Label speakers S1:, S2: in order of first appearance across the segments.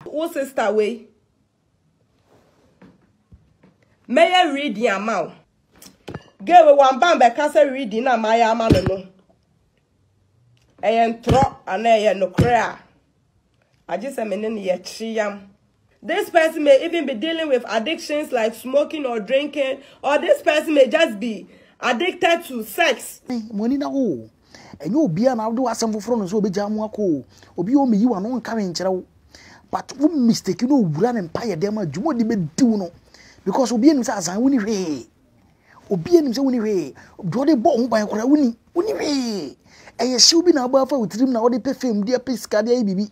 S1: Wo sister wei mɛyɛ reading ama wo. Gay wei wamba mbɛka sɛ reading na mayɛ ama no no. Ɛyɛ ntorɔ anaa ɛyɛ nokorɛ a agye sɛ me ne no yɛ kyeyam. This person may even be dealing with addictions like smoking or drinking, or this person may just be addicted to sex. Monina oh,
S2: Ɛnyɛ obiara na wode w'asɛm foforo no sɛ obegyaa mo akɔ o. Obi o meyi w'ano nka hwee nkyerɛ wo. But wo mistake no owura ne mpaeɛ dɛm a dwuma odi bɛdi wo no because obi anim sɛ asan woni hwee. Obi anim sɛ woni hwee. Deɛ ɔde bɔ wo ho ban koraa woni woni hwee. Ɛyɛ hyew bi na abɔ afa wo tirim na wode pɛ fame de apɛ sika de ayɛ biribi.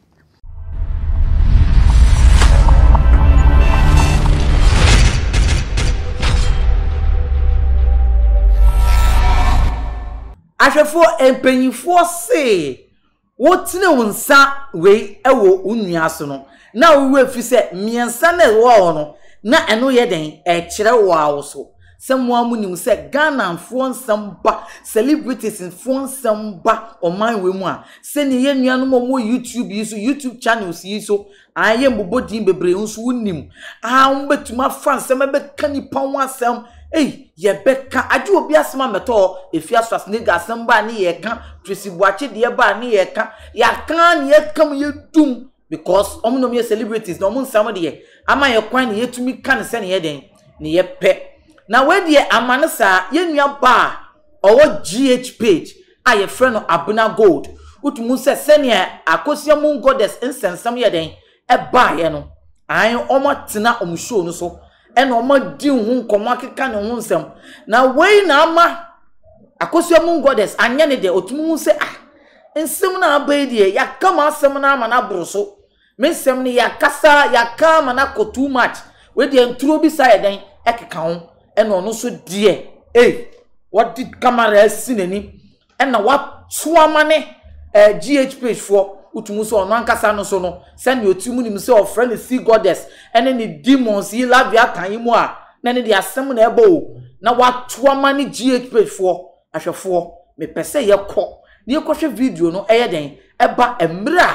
S3: Ahwɛfoɔ mpanyinfoɔ see wotene wo nsa wei wɔ wo nua so no na wo werɛ fi sɛ mmiɛnsa na ɛwɔ hɔ no na ɛno yɛ dɛn ɛrekyerɛ wo ara wo so. Sɛ mo ara mo nim sɛ Ghana foɔ nsɛm ba celebrities foɔ nsɛm ba ɔman wei mu a sɛnea yɛ nuanom a wɔwɔ YouTube yi so YouTube channels yi so aa yɛ mbobɔ din bebree nso wo nim aa wɔn bɛtumi afa nsɛm ɛbɛka nipa ho asɛm ei yɛbɛka agye obi asɛm a mɛtɔ hɔ efi aso as nigga asɛm baa ne yɛka Tracy Boakye deɛ baa ne yɛka yɛaka ne yɛka mu yɛdum because wɔn nom yɛ celebrities na wɔn nsɛm deɛ ama yɛ kwan ne yɛtumi ka ne sɛnea yɛ dɛn Ne yɛ pɛ. Na wei deɛ ama no saa, yɛn nua baa a ɔwɔ GH page a yɛfrɛ no Abena Gold, wotumi hu sɛ sɛnea Akosua Moon Goddess nsɛnsɛm yɛ dɛn baeɛ no, ae, wɔatena wɔn show no so na wɔadi ho nkɔmmɔ akeka ne ho nsɛm. Na wei na ama Akosua Moon Goddess anyɛ ne dɛ, ɔtumi hu sɛ ah, nsɛm no a aba yi deɛ, yɛaka mu asɛm no ama no aboro so, Me nsɛm no yɛakasa yɛaka ama no akɔ too much wei deɛ nturo bi saa yɛ dɛn ɛkeka ho ɛna ɔno nso deɛ ei wɔde kamara asi n'ani ɛna wato ama ne ɛɛ eh, gh page foɔ wotumi sɛ ɔno ankasa no so no sɛnea ɔti mu nim sɛ ɔfrɛ no sea goddess ɛne ne demons yi laviatan yi mu a na ne de asɛm na ɛbɔ o na wato ama ne gh page foɔ ahwɛfoɔ mepɛ sɛ yɛkɔ na yɛkɔhwɛ video no ɛyɛ dɛn ɛba mmerɛ a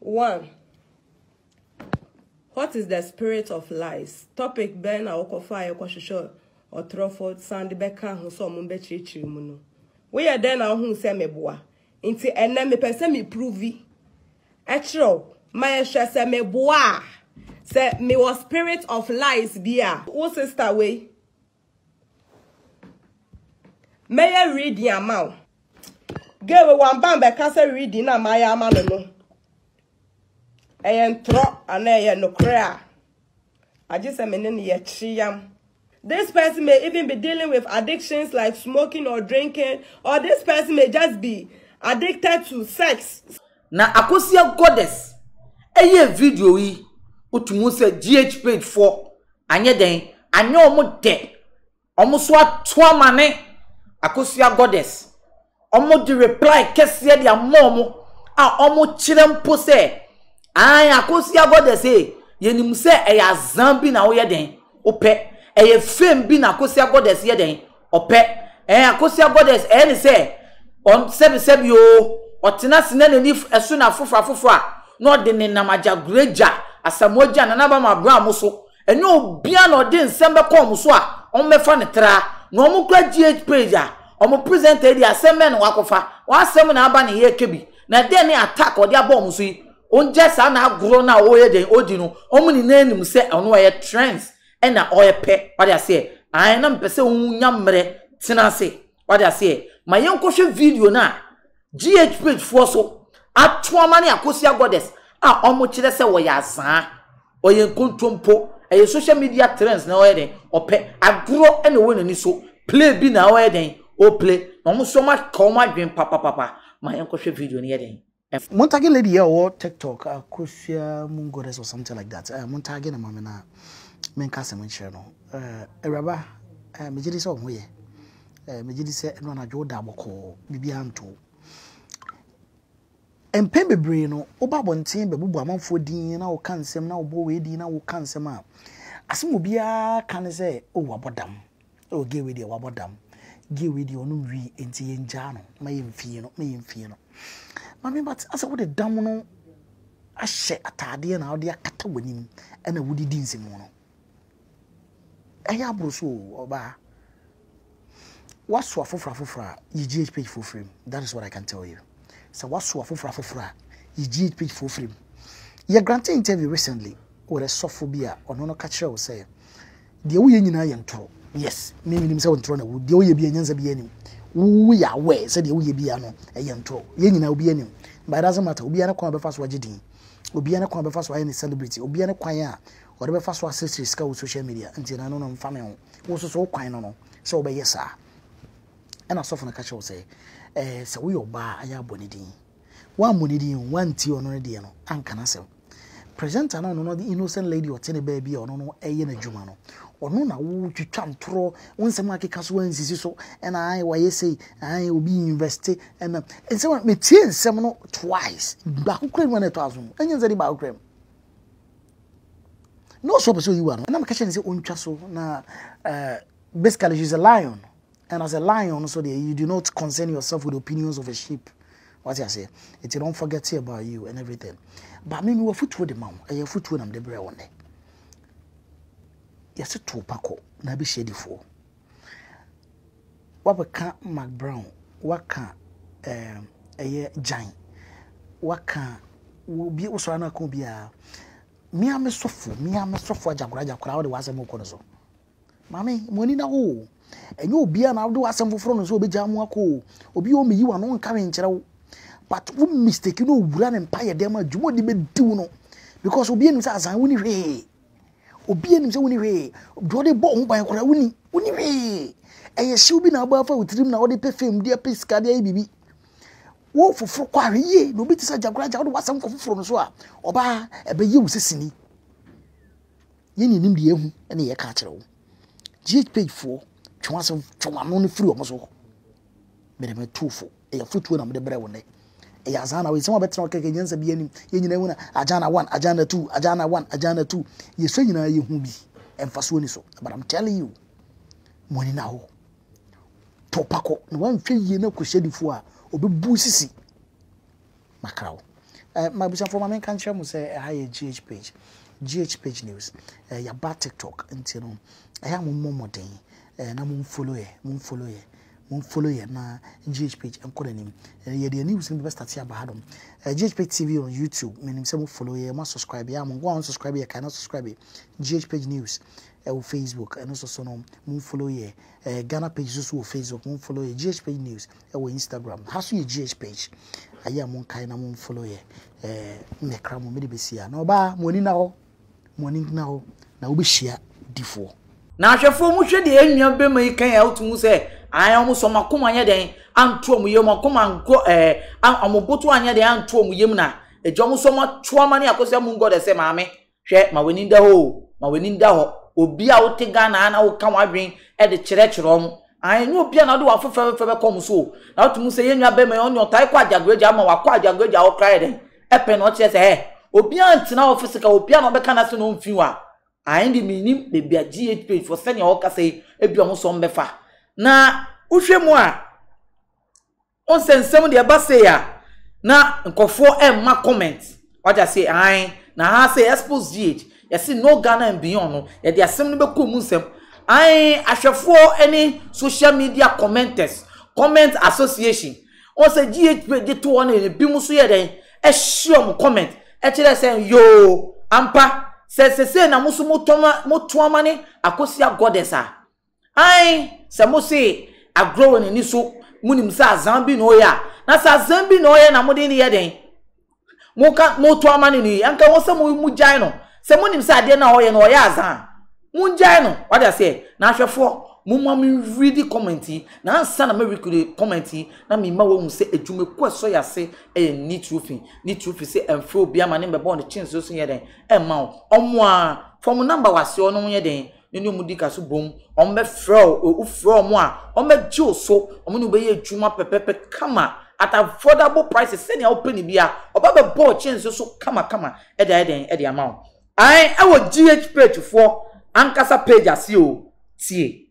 S1: One, What is the spirit of lies? Topic bɛn na wokɔfaeɛ kɔhwehwɛ ɔtorɔfo san de bɛka ho sɛ ɔmo bɛkyerɛkyerɛ mu no? Woyɛ dɛn na wohu sɛ meboa? Nti ɛnɛ mepɛ sɛ mepuruvi kyerɛ wo ma yɛhwɛ sɛ meboa a sɛ mewɔ spirit of lies bi a wo sister wei Mɛyɛ reading ama wo. Girl wei wamba mbɛka sɛ reading na mayɛ ama no no. Ɛyɛ ntorɔ anaa ɛyɛ nokorɛ a, agye sɛ me ne no yɛkyere yam. This person may even be dealing with addictions like smoking or drinking, or this person may just be addicted to sex. Na Akosua
S3: Goddess ɛyɛɛ video yi wotu mu sɛ GH page foɔ anyɛ dɛn anyɛ ɔmo dɛ ɔmo so ato ama ne Akosua Goddess ɔmo de reply kɛseɛ de ama ɔmo a ɔmo kyerɛ mpo sɛ ae Akosua Goddess ee yɛnim sɛ ɛyɛ azaa bi na woyɛ dɛn wopɛ ɛyɛ fame bi na Akosua Goddess yɛ dɛn Ɔpɛ, eh, Akosua Goddess ɛyɛ ne sɛ ɔn sɛbisɛbi oo, ɔtena ase na n'ani f ɛso na afoforo afoforo a, na ɔde ne nam agya Gure gya, Asamoa gya, Nana Bama bra mo so. Ɛnyɛ obiara na ɔde nsɛm bɛkɔ wɔn so a wɔn bɛfa no tra. Na wɔn kura GH page a, wɔn presenter yi deɛ asɛm bɛn na wakɔfa? W'asɛm na aba na yɛreka bi. Na dɛn ne attack a ɔde aba wɔn so yi? Ɔngyae saa n'agorɔ no a ɔreyɛ dɛn ɔredi no, wɔn nyinaa nim sɛ ɔno ɔyɛ trends ɛna ɔɛpɛ wade aseɛ ae na mepɛ sɛ wo nya mmerɛ tena ase wade aseɛ ma yɛn kɔhwɛ video no a GH page foɔ so atoama ne akosia goddess a ɔmo kyerɛ sɛ ɔyɛ azaa ɔyɛ nkontompo ɛyɛ social media trends na ɔyɛ den ɔpɛ agorɔ ɛna ɔwɔ n'ani so play bi na ɔyɛ den ɔplay na ɔmo so ɔmo aka ɔmo adwen papapapa ma yɛn kɔhwɛ video no yɛ den. Ɛf mo
S2: ntagge lady yɛ ɔwɔ tiktok akosua moon goddess or something like that ɛɛ mo ntagge no ma me na me nka asɛm nkyerɛ no ɛɛ awuraba ɛɛ megye di sɛ ɔho yɛ ɛɛ megye di sɛ ɛno anadwo da bɔkɔɔ biribi anto mpɛn bebree no woba abɔnten bɛbobɔ amanfoɔ din na woka nsɛm na wobɔ wei din na woka nsɛm a asɛm obiara ka ne sɛ o wabɔ dam Oh gay wei deɛ wabɔ dam Gay wei deɛ ɔnom wii Enti yɛngyaa no ma yɛmfie no Ma yɛmfie no Maame but asɛ wode dam no ahyɛ ataadeɛ na wode akata w'anim ɛna wode di nsɛmu no Ɛyɛ aboro so o ɔbaa Woaso afoforo afoforo a yɛgyina page foforɔ mu That is what I can tell you. Sɛ woaso afoforo afoforo a, yi Jeet Page foɔ firi mu. Yɛ grante interview recently with a sɔfo bi a ɔno no ka kyerɛɛ wo sɛ, Deɛ woyɛ nyinaa yɛ ntorɔ. Yes, me menim sɛ ntorɔ na ɛwɔ mu. Deɛ woyɛ biara nyansa biara nnim. Wo woyɛ aware sɛ deɛ woyɛ biara no ɛyɛ ntorɔ. Yɛn nyinaa obiara nim. But it doesn't matter. Obiara ne kwan a ɔbɛfa so agye din. Obiara ne kwan a ɔbɛfa so ayɛ ne celebrity. Obiara ne kwan a ɔde bɛfa so asesere sika wɔ social media. Nti ɛno no mfa me ho. Wo nso so wo kwan no no sɛ wobɛyɛ saa. Ɛna sɔfo no ka kyerɛ wo sɛ, ɛɛ sɛ woyɛ ɔbaa ayɛ abɔ ne din. Woammɔ ne din o, woantie ɔno no deɛ no, anka n'asɛm. Presenter no ɔno no the innocent lady ɔte ne baabi a ɔno no ɛyɛ n'adwuma no. Ɔno na wotwitwa ntorɔ, wo nsɛm akeka so ansisi so, ɛna ae wayɛ sei, ae obi investe, ɛna nsɛm a metie nsɛm no twice, baako kura mu na ɛtɔ aso no, ɛnyɛ nsɛm de baako kura mu. Na ɔsɔ pɛ sɛ oyi wa no, ɛna meka kyerɛ no sɛ ɔntwa so na ɛɛ. Basically she's a lion and as a lion no so deɛ you do not concern yourself with opinions of a sheep wate aseɛ nti don't forget about you and everything ba me mewɔ afotuo de ma wo ɛyɛ afotuo na mede brɛ wo nnɛ yɛse to pa kɔ na abɛhyia adifoɔ wabɛka mark brown waka eh, ɛyɛ gyan waka obi wosɔre no aka obiara mea me sɔfo mea me sɔfo agyakora agyakora wode w'asɛm wokɔ no so Maame, mo ani na hɔ o. Ɛnyɛ obiara na wode w'asɛm foforo no sɛ obegyaa mo akɔ o. Obi wɔ hɔ meyi w'ano nka hwee nkyerɛ wo. But wo mistake no owura ne mpaeɛ dɛm a dwuma ɔde bɛdi wo no because obiara nim sɛ azan woni hwee. Obiara nim sɛ woni hwee. Deɛ ɔde bɔ wo ho ban koraa woni woni hwee. Ɛyɛ hyew bi na abɔ afa wo tirim na wode pɛ fame de apɛ sika de ayɛ biribi. Wo foforo kɔ ahwɛ yie na obi te sɛ agya koraa agya wode w'asɛm kɔ foforo no so a ɔbaa ɛbɛyɛ wo sɛ sini. Yɛn ne nimdeɛ ho na yɛka akyerɛ wo. GH page foɔ twe wɔn asɛm twe wɔn ano no firi wɔn so. Mede me tu fo. Ɛyɛ fotuo na mede brɛ wo nnɛ. Ɛyɛ azana wei sɛ wɔn abɛtena ɔkɛkɛ nyansa bi anim. Yɛn nyinaa hu na agana one agana two agana one agana two. Yɛsua nyinaa yɛhu bi. Mfasoɔ ni so. But I'm telling you. Mo ani na hɔ. Tɔpakɔ na wɔanhwɛ yie na kɔhyɛ difoɔ a ɔbɛbu sisi makra wo. Eh, m'abusuafoɔ ma menka nkyerɛ mo sɛ ɛha yɛ GH page, GH page news. Eh, yɛaba TikTok nti no, ɛyɛ a mommɔ mmɔden eh, na momfollow yɛ, momfollow yɛ, momfollow yɛ na GH page nkɔ n'anim. Eh, yɛde yɛn news no bɛbɛstate aba ha nom. Eh, GH page TV on YouTube, menim sɛ mofollow yɛ, moasubscribe yɛ a, mo nko a onsubscribe yɛ, kae na subscribe yɛ. GH page news ɛwɔ eh, Facebook, ɛno so so no momfollow yɛ. Eh, Ghana page so so wɔ Facebook, momfollow yɛ. GH page news, ɛwɔ Instagram ha so yɛ GH page ayɛ a monkae na monfollow yɛ ɛɛ mɛkra mo mede bɛsi a na ɔbaa mo ani na hɔ mo ani na hɔ na wobɛhyia difoɔ na ahwɛfoɔ
S3: mo hwɛ deɛ ɛnua bɛma yi kan a wotum sɛ ae ɔmo sɔ ɔmo akoma anyɛ dɛn anto ɔmo yam akoma ankɔ ɛɛ ɔmo boto anyɛ dɛn anto ɔmo yam na ɛgya ɔmo sɔ ɔmo atoa ma ne akɔsɛ mo ngɔdɛ sɛ maame Hwɛ, ma w'ani da hɔ o, ma w'ani da hɔ. Obi a wote Ghana a na woka w'adwen de kyerɛkyerɛ wɔn. Aane, ɛnyɛ obiara na wode w'afe fɛfɛɛfɛ bɛkɔ wɔn so o. Na wote mu sɛ yɛn nua barima yi, ɔno deɛ ɔtae kɔ Agyaguagya, ama wakɔ Agyaguagya hɔ koraa yɛ dɛn? Ɛpɛ na ɔkyerɛ sɛ, eh, obiara ntena hɔ fisika, obiara na ɔbɛka n'asɛm na ɔmfiri hɔ a, aane deɛ mennim baabi a GHPH foɔ sɛdeɛ wɔkasa yi, ebia wɔn nso wɔbɛfa. Na wohwɛ mu a, Wohu sɛ nsɛm deɛ ɛba sei a na nkurɔfoɔ ɛmma comment wagye aseɛ ae na haa sɛ expose GH yɛse no Ghana and beyond no yɛde asɛm no bɛkɔ mu nsɛm ae ahwɛfoɔ ɛne social media commenters comment association wohu sɛ GH page de to hɔ no ebi mu so yɛ dɛn ɛhye ɔmo comment ɛkyerɛ sɛ yoo ampa sɛ sesei na mo so motoama ne Akosua Goddess a Ae, sɛ mose agorɔ wɔ n'ani so, monim sɛ azan bi na ɔyɛ a, na sɛ azan bi na ɔyɛ na mode no yɛ dɛn? Moka, moto amane no yi, anka ɛwɔ sɛ mo, mogyae no, sɛ monim sɛ adeɛ no a ɔyɛ no, ɔyɛ azan a. Mongyae no. Wate aseɛ? Na ahwɛfoɔ, momma me readi comment yi, na ansa na mɛrekodi comment yi, na mema woahu sɛ adwuma ku a ɛsɔ yɛn ase yɛ ne tiri fi, ne tiri fi sɛ ɛmfrɛ obiara ma ne mmɛbɔ ne kyenso so nyɛ dɛn, ɛmma wo. Ɔmo a, fa ɔmo number wɔ aseɛ hɔ na ɔnyɛ dɛn, na ne wɔn di ka so bom, wɔn bɛ frɛ o, o frɛ wɔn a, wɔn bɛ gye o so, wɔn ne bɛ yɛ adwuma pɛpɛpɛ kama at affordable prices sɛnea wɔpɛ ne bia, ɔba bɛ bɔ ɔkye nso so kama kama ɛde ayɛ dɛn ɛde ama wɔn. Ae ɛwɔ GH page foɔ ankasa page aseɛ o tie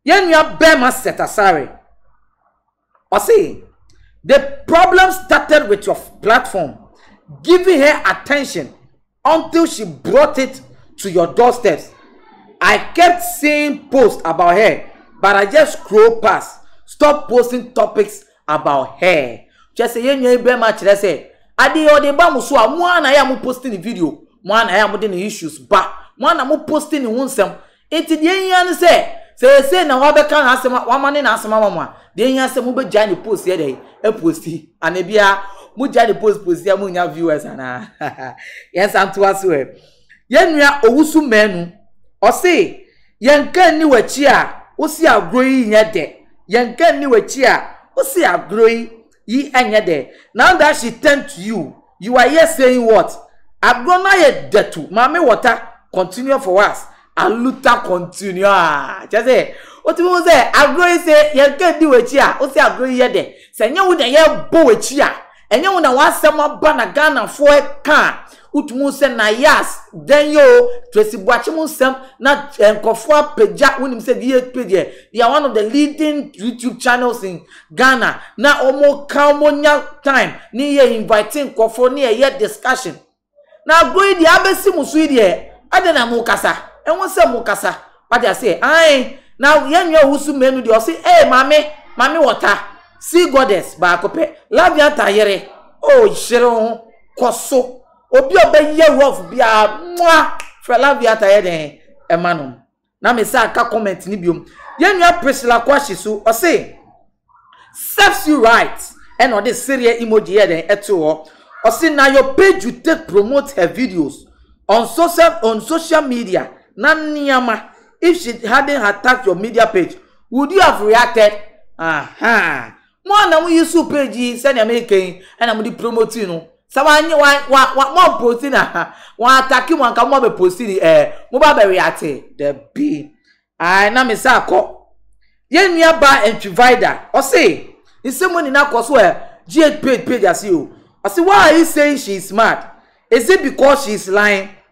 S3: yɛn nua bɛɛma sɛtasare. Ɔse the problem started with your platform giving her attention until she brought it to your doorsteps I kept seeing posts about her but I just scroll past stop posting topics about her Kyerɛ sɛ yɛn nua yi bɛrima kyerɛ sɛ adeɛ yɛ ɔde ba mo so a mo ara na yɛ a mo posti ne video mo ara na yɛ a mo de ne issues ba mo ara na mo posti ne ho nsɛm Enti deɛ ɛhia ne sɛ, sɛ ɛyɛ sei na wabɛka n'asɛm a, wamane n'asɛm ama mo a, deɛ ɛhia sɛ mobɛgyae ne post yɛ dɛn? Aposti. Anaa biaa, mogyae ne post posti a monnya viewers anaa? Yɛnsan ntoa so ɛ. Yɛn nua Owusu Manu, ɔse, Yɛn ka nni w'akyi a wosi agorɔ yi nyɛ dɛ, yɛn ka nni w'akyi a wosi agorɔ yi yi nyɛ dɛ, now that she turned to you, You are here saying what? Agorɔ no ayɛ datu maame wɔta continue for us. Aluta continue aa kyɛ sɛ wotumi hu sɛ agorɔ yi sɛ yɛka di w'akyi a wosɛ agorɔ yi yɛ dɛ sɛ ɛnyɛ wo na yɛbɔ w'akyi a ɛnyɛ wo na w'asɛm aba na Ghanafoɔ ɛka a wotumi hu sɛ na yas dɛn yɛ o Tracy Boakye mu nsɛm na nkurɔfoɔ apagya wonim sɛ VHP deɛ they are one of the leading YouTube channels in Ghana na ɔmo ka ɔmo nya time ne yɛ invite nkorɔfoɔ ne ɛyɛ discussion na agorɔ yi deɛ abɛsi mo so yi deɛ ɛde na mo kasa ɛho sɛ mo kasa wate aseɛ ae na yɛn nua owusu mmienu deɛ ɔse ee maame maame wɔta sea goddess baako pɛ lavianta yere oh hyere ho kɔ so obi a ɔbɛyɛ rough biara mwah frɛ lavianta yɛ dɛn ɛma nom Na me san ka comment no biom. Yɛn nua Priscilla Kwashi so, ɔse, Serves you right, ɛna ɔde sereɛ emoji yɛɛ dɛn ɛtoo hɔ. Ɔse, na your page you take promote her videos on social on social media na nneɛma, if she hadn't attacked your media page, would you have reacted? Ahaa. Mo a na mo usuu page yi sɛnea meka yi na mode promote no, sɛ wanyɛ wa wa wa moamposti no a, wɔn atake mo anka mo abɛ posti de ɛɛ moba abɛ reate dabi ae na me sa kɔ yɛn nua ba ntwi vida ɔse nsɛm mo nyina kɔ so ɛɛ GH page page ase o ɔse why are you saying she is mad is it because she is lying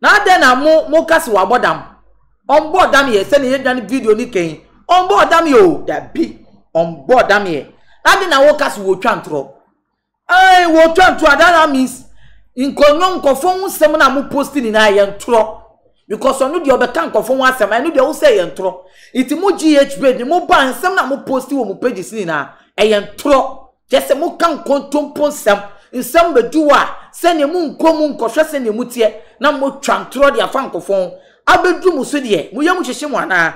S3: Na adɛn na mo mo ka se wabɔ dam? Ɔmbɔɔ dam yɛ sɛnea yɛdwa ne video no kɛn yi. Ɔmbɔɔ dam yɛ o, dabi. Ɔmbɔɔ dam yɛ. Na adɛn na woka se wotwa ntorɔ? Ae, wotwa ntorɔ a, that now means nkɔnwom, nkɔfoɔ ho nsɛm no a mo posti nyinaa ɛyɛ ntorɔ. Because ɔno deɛ ɔbɛka nkɔfoɔ ho asɛm, ɛno deɛ wosɛ ɛyɛ ntorɔ. Nti mo GH Babe ne mo baa nsɛm no a mo posti wɔ mo pages no nyinaa ɛyɛ ntorɔ. Gye sɛ moka nkontompo nsɛm, nsɛm bɛduru a, sɛdeɛ monkɔ mu nkɔhwɛ sɛdeɛ moteɛ, na motwa ntorɔ de afa nkofɔn, abɛduru mo so deɛ, mo yam hyehye mo anaa?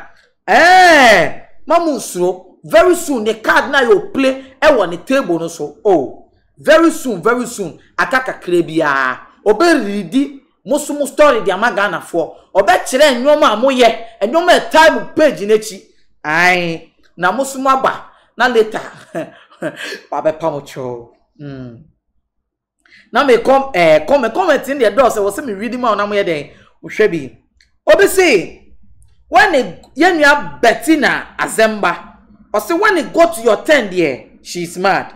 S3: Ɛɛn! Mma monnsuro, very soon ne card no ayɛ opule wɔ ne table no so, oh, very soon, very soon, aka kakra bi ara, ɔbɛredi. Mo so mo story de ama Ghana foɔ. Ɔbɛkyerɛ nnoɔma a moyɛ, nnoɔma a ɛtaa mu page no akyi. Ae, na mo so moaba na later wabɛpa mo kyɛw. Mm. Na me kɔm, eh, kɔm, comment no deɛ dɔɔ sɛ wɔ sɛ me read ma wo na moyɛ dɛn? Wohwɛ bi. Obi se, when it, yɛnua Bettina Azemba, ɔse when it go to your turn deɛ, she is mad.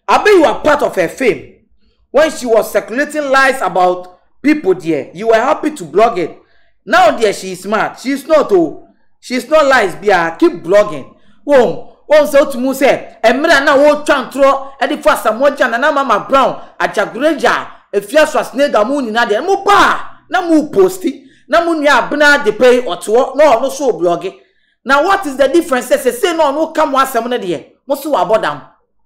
S3: Abi you are part of her fame when she was circulating lies about people deɛ you were happy to blog it now deɛ she is smart she is not oo she is not lies biara keep blogging wohu wohu sɛ wotumi hu sɛ mmerɛ a na wɔretwa ntorɔ de fa Asamoah Gyan Nana Mama Brown Agyagoragya Afia Schwarzenegger mo nyinaa deɛ mo baa na mo reposti na mo nua Abena Adepeyi ɔte hɔ na ɔno nso reblɔge Na what is the difference sɛ sesei na ɔno reka mo asɛm no deɛ mo se wabɔ dam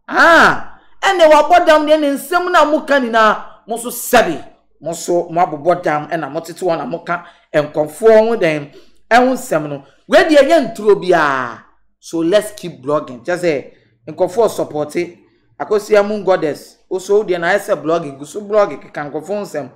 S3: aah ɛnneɛ wabɔ dam deɛ ne nsɛm no a mo ka nyinaa mo nso sɛbe mo nso mo abobɔ dam ɛna mo tete wɔn na mo ka nkɔfoɔ ho dɛn ɛho nsɛm no wei deɛ ɛnyɛ nturo biara so let's keep blogging kyɛ sɛ nkɔfoɔ sɔpɔte akɔsia mu goddess oso wo deɛ na ayɛ sɛ blogging gu so blogging keka nkɔfoɔ nsɛm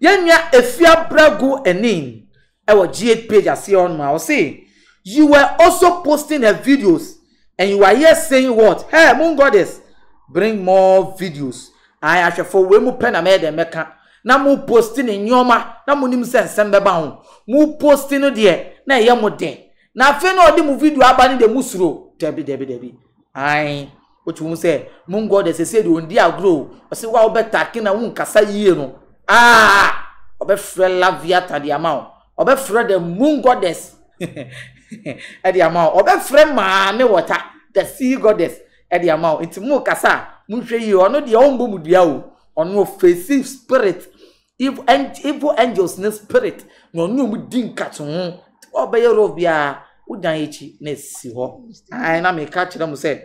S3: yɛnwa efia brago ɛnin Ɛwɔ Jade page aseɛ hɔ nom a ɔse you were also posting her videos and you are here saying what her moon goddess bring more videos ae ahwɛfoɔ wei mo pɛ na mɛyɛ dɛn mɛka na mo posti ne nneɛma na mo nim sɛ nsɛm bɛba ho mo posti no deɛ na ɛyɛ mo dɛ na afei na ɔde mo video aba no deɛ mo suro dabi dabi dabi ae Wotumi hu sɛ Mungo de sese de ondi agorɔ o. Ɔsi wo a wobɛ tag na wo nkasa yie no, aah! Ɔbɛfrɛ Laviata de ama wo. Ɔbɛfrɛ the moon goddess de ama wo. Ɔbɛfrɛ maame wɔta, the sea goddess de ama wo. Nti mo kasa a, monhwɛ yie. Ɔno deɛ ɔmbɔ mu dua o. Ɔno ɔfesi spirit Evil, ang evil angels ne spirit na ɔne ɔmo di nkate ho. Nti ɔbɛyɛ rɔf biara, wodan akyi na esi hɔ. Ae na meka kyerɛ mo sɛ,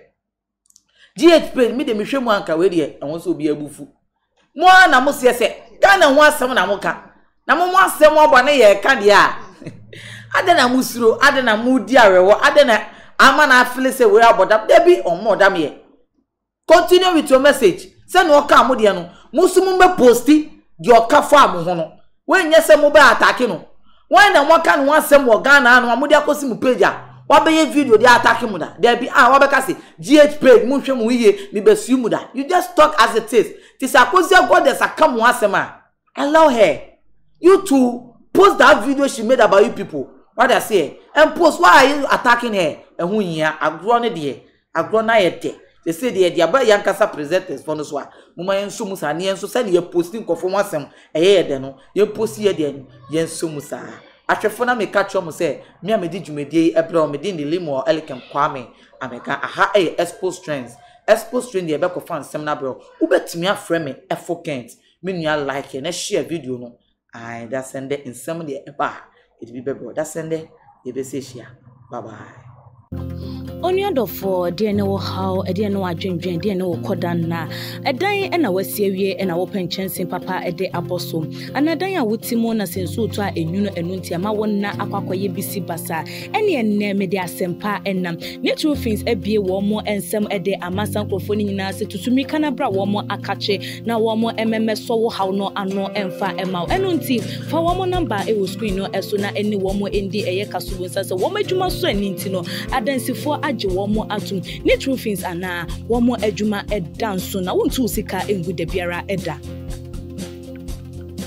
S3: GH pain, me de mehwɛ mu anka wei deɛ ɛho sɛ obi abufu. Mo ara na mo seɛ sɛ Ghana ho asɛm na mo ka. Na mo mo asɛm ɔbɔ ne yɛ ɛka deɛ a. Adɛn na mo suro, adɛn na mo di awerɛhɔ, adɛn na ama na afele sɛ wei abɔ dam. Dabi, ɔmo ɔdam yɛ. Continue with your message sɛ nea ɔkaa mo deɛ no mo nso mo bɛ posti deɛ ɔka faa mo ho no wei nyɛ sɛ mo bɛ atake no wɔn na mo aka ne ho asɛm wɔ Ghana ha no a mo de akɔsi mo page a wabɛyɛ video de atake mo da daabi a wabɛka se GH page mo nhwɛ mo ho yie me bɛ sue mo da you just talk as it is te sɛ Akosia Gorgeous aka mo ho asɛm a Allow her you to post that video she made about you people wade aseɛ and post why are you attacking her ɛho hia agorɔ no deɛ agorɔ no ayɛ dɛ sese deɛ ɛde aba yɛn ankasa presenters fɔ no so a mo ma yɛn nso mu saa ne yɛn nso sɛdeɛ yɛ post nkɔfo ho asɛm ɛyɛ yɛ dɛ no yɛn post yɛ deɛ no yɛn nso mu saa ahwɛfo na meka kyerɛ mo sɛ me a medi dwumadie yi ɛbrɛ wɔn medi ne limo elikem kwame ameka aha ɛyɛ expose trends expose trend deɛ ɛbɛkɔfa nsɛm no abrɛ wo wobɛtumi afrɛ me ɛfo kent Me nua like na share video no. Ae dasɛ ndɛ nsɛm deɛ ɛba a yɛde bi bɛbrɛ dasɛ ndɛ yɛbɛsɛ ahyia bye bye. Onua
S4: dɔfoɔ, deɛ ne wo haw, deɛ ne wo adwendwen, deɛ ne wo kɔda nna. Ɛdan na wasi awie na wopɛ nkyɛnse papa de abɔ so. Anaa dan a wote mu na sɛ nsuo tɔ a ɛnwunu ɛno nti ɛma wo nna akɔ akɔyɛ bisi basaa. Ɛnneɛ nnɛ mede asɛmpa nam. Ne true fins abue wɔn nsam de ama saa nkurɔfoɔ no nyinaa sɛ tutu mmirika na bra wɔn akakye na wɔn mmɛmɛsɔ wo haw no ano mfa mma wo. Ɛno nti fa wɔn number wɔ screen no so na ne wɔn ndi ɛyɛ ka so wonsa sɛ wɔn adwuma sɔ ani nti no adansifoɔ agye wɔn atom. Ne true fins anaa wɔn adwuma da nso na wontu wo sika ngu dabiara da.